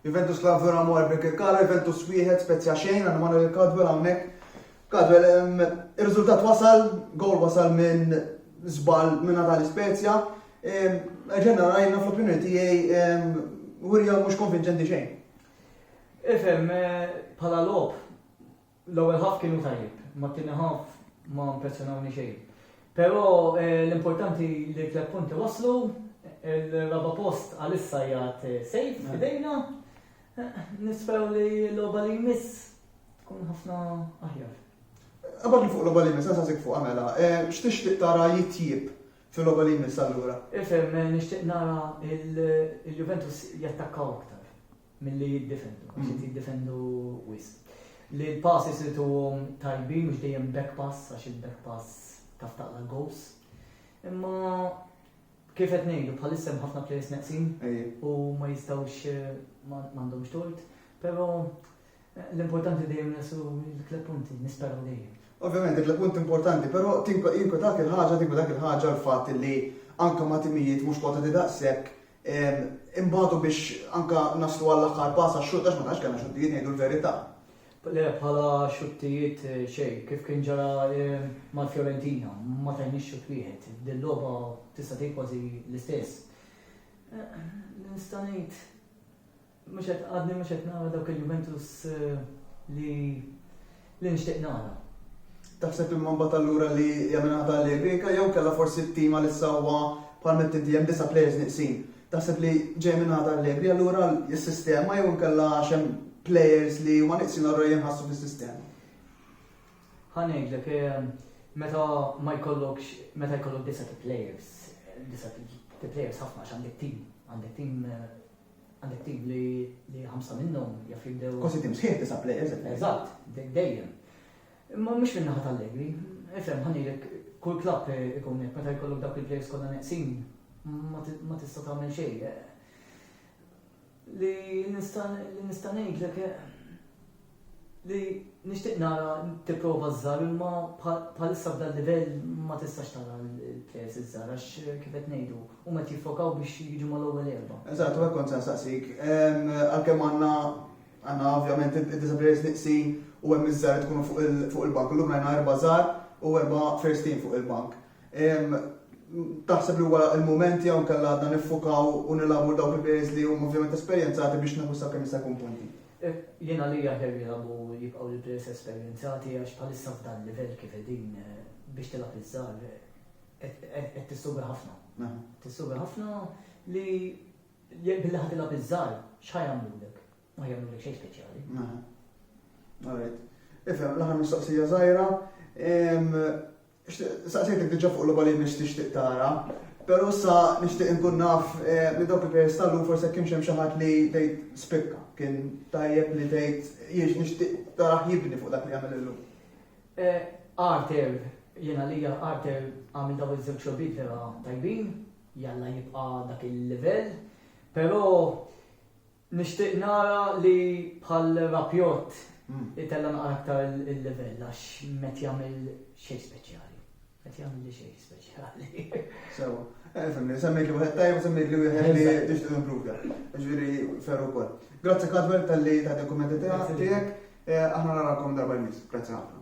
Juventus Club vera mor Birkir Kara, Juventus wieħed Spezia xejn għandna Manuel Kadwel hawnhekk. Kadwel ir-riżultat wasal, gol wasal minn żball minn Natali Spezia. Ġenna rajna fl-opinjoni tiegħi Wirja mhux konvinċenti xejn. Ifhem, bħala logħob L-ewwel ħaff kienu tajjeb, ma t-tieni ħaff ma impressjonawni xejn. Però eh, l-importanti li tliet punti waslu, il-raba post għalissa jgħat eh, sejf eh. f'idejna, nispew li l-logħba li jmiss tkun ħafna aħjar. Għabad li fuq l-logħba li jmiss, għasasik fuq għamela, x'tixtieq tara jitjib fil-logħba li jmiss allura? Ifhem, nixtieq nara il-Juventus jattakkaw aktar. milli jiddefendu, għax qed jiddefendu wisq. Li l-passes irid huhom tajbin mhux dejjem back pass għax il-back pass taf taqla goals. Imma kif qed ngħidu bħalissa hemm ħafna players neqsin u ma jistgħux eh, m'għandhomx tort, però eh, l-importanti dejjem nesu l-kleb punti, nisperaw dejjem. Ovvjament, dik l-punt importanti, però tinko dak il-ħaġa, tinko dak il-ħaġa l-fatt li anka ma timijiet mhux kota di daqshekk Inbagħtu biex anke naslu għall-aħħar pass għax-xutt għax ma tantx kellna xuttijiet ngħidu l-verità. Le, bħala xuttijiet xejn, kif kien ġara mal-Fiorentina, ma tajniex xutt wieħed. Din logħba tista' tgħid kważi l-istess. Nista' ngħid Mhux qed għadni mhux qed nara dawk il-Juventus li li nixtieq nara. Taħseb imma mbagħad allura li jagħmilha ta' Allegri inkella jew kellha forsi t-tim għalissa huwa bħal meta inti hemm disa' plejers nieqsin. Taħseb li ġej minn ta' Allegri allura s-sistema jew inkella għax hemm plejers li huma nieqsin allura jinħassu fis-sistema. Ħa ngħidlek eh, meta ma jkollokx meta jkollok disa' plejers, disa' plejers ħafna għax għandek tim, għandek tim eh, Għandek tim li li ħamsa minnhom jaf jibdew. Kważi tim sħiħ disa' plejers. Eżatt, dejjem. Imma mhux min-naħa tal-Allegri. Ifhem ħanilek kull klabb ikun hekk meta jkollok dawk il-plejers kollha neqsin ma tista' tagħmel xejn. Li nista' ngħidlek li nixtieq nara tipprova ż-żgħar imma bħalissa f'dan livell ma tistax tara l-plejers iż-żgħar għax kif qed ngħidu huma qed jiffokaw biex jiġu mal-ewwel erba'. Eżatt, u hekk kont se nsaqsik. Għalkemm għandna għandna ovvjament id-disa' plejers nieqsin u hemm iż-żgħar li tkunu fuq il-bank, illum rajna erba' żgħar u erba' first team fuq il-bank. Taħseb li huwa l-mument jew inkella għadna niffukaw u nilagħbu dawk il-players li huma ovvjament esperjenzati biex nieħdu sakemm jista' jkun punti? Jien għalija aħjar jilagħbu jibqgħu l-players esperjenzati għax bħalissa f'dan il-livell kif qegħdin biex tilgħab iż-żgħar qed tissuga ħafna. Tissuga ħafna li jekk billi ħad tilgħab iż-żgħar x'ħa jagħmlulek? Ma jagħmlulek xejn speċjali. Alright. Ifhem l-aħħar mistoqsija żgħira. Saqsejtek diġà fuq logħba li jmiss tixtieq tara, però issa nixtieq inkun naf li dawk il-players tal-lum forsi jekk kienx hemm xi ħadd li tgħid spikka, kien tajjeb li tgħid jiġ nixtieq tarah jibni fuq dak li għamel illum. Arthur, jien għalija Arthur għamel dawn iż-żewġ logħbiet vera tajbin, jalla jibqa' dak il-livell, però Nixtieq nara li bħal Rabiot itella' naqra aktar il-livell għax m'qed jagħmel xejn speċjali. Qed jagħmilli xejn speċjali. Sewwa. Fimni, semmejtli wieħed tajjeb u semmejtli wieħed li tixtieq improvda. Ġifieri ferru wkoll. Grazzi Kadwell tal-li ta' dokumenti tiegħek. Aħna narakom darba l-mis. Grazzi ħafna.